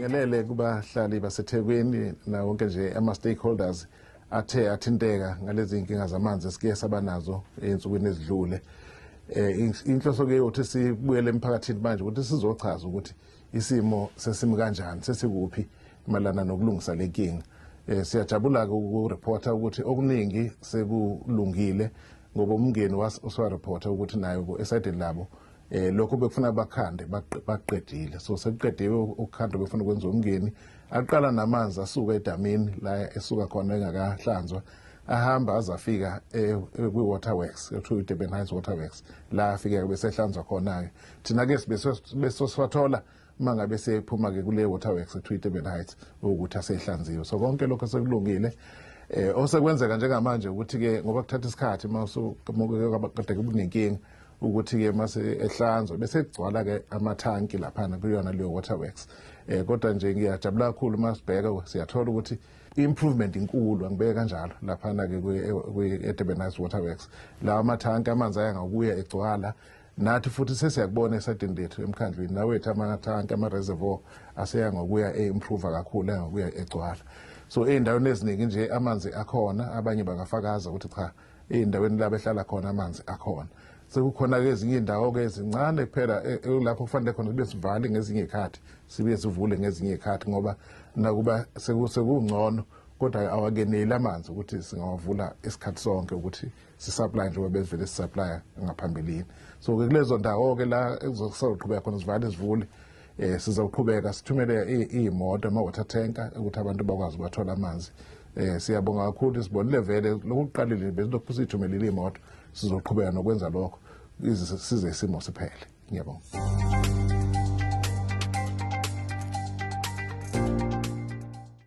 sibingelele kubahlali basethekwini nawo wonke nje ama-stakeholders athe athinteka ngalezi nkinga zamanzi esike sabanazo ey'nsukwini ezidlule um inhloso-ke yokuthi sibuyele emphakathini manje ukuthi sizochaza ukuthi um isimo sesimi kanjani sesikuphi malana nokulungisa le nkinga eh, siyajabula-ke ukurephotha ukuthi okuningi sekulungile ngoba umngeni usiwarephotha ukuthi nayo esaydini labo eh lokho bekufuna bakhande baqedile so sekuqediwe ukukhanda befuna ukwenza umngeni aqala namanzi asuka edamini la esuka khona engakahlanzwa ahamba azafika eh, kwi-waterworks ekuthiwa i-durban heights waterworks la afike besehlanzwa khona-ke thina ke besoswathola uma ngabe sephuma-ke kule waterworks etwiteben heights ukuthi asehlanziwe so konke lokho sekulungile eh osekwenzeka njengamanje ukuthi ke ngoba kuthatha isikhathi uma usukade kunenkinga ukuthi ke mase ehlanzwa bese kugcwala ke amathanki laphana kuyona leyo waterworks eh kodwa nje ngiyajabula kakhulu uma sibheka siyathola ukuthi improvement inkulu angibeke kanjalo laphana ke kwi-Durban Waterworks lawa mathanki amanzi aya ngokuya egcwala nathi futhi sesiyakubona esadini lethu emkhandlwini nawethu amathanki ama-reservoir aseya ngokuya e-improva kakhulu angokuya egcwala so ey'ndaweni eziningi nje amanzi akhona abanye bangafakaza ukuthi cha ey'ndaweni la behlala khona amanzi akhona sekukhona-ke ezinye iy'ndawo-ke ezincane kuphela e, e, lapho kufanele khona kube sivale ngezinye iy'khathi sibe sivule ngezinye iy'khathi ngoba nakuba sekungcono kodwa awakeneli amanzi ukuthi singawavula isikhathi sonke ukuthi sisaplaya njengoba bevele sisaplaya ngaphambilini so ke kulezo ndawo-ke la ekuzoqhubeka khona zivale zivule um eh, sizawuqhubeka sithumele iy'moto ama-water tanker ukuthi abantu bakwazi ubathola amanzi um siyabonga kakhulu sibonile vele lokuqalile besilokhu siyithumelile iy'moto sizoqhubeka nokwenza lokho size isimo siphele ngiyabonga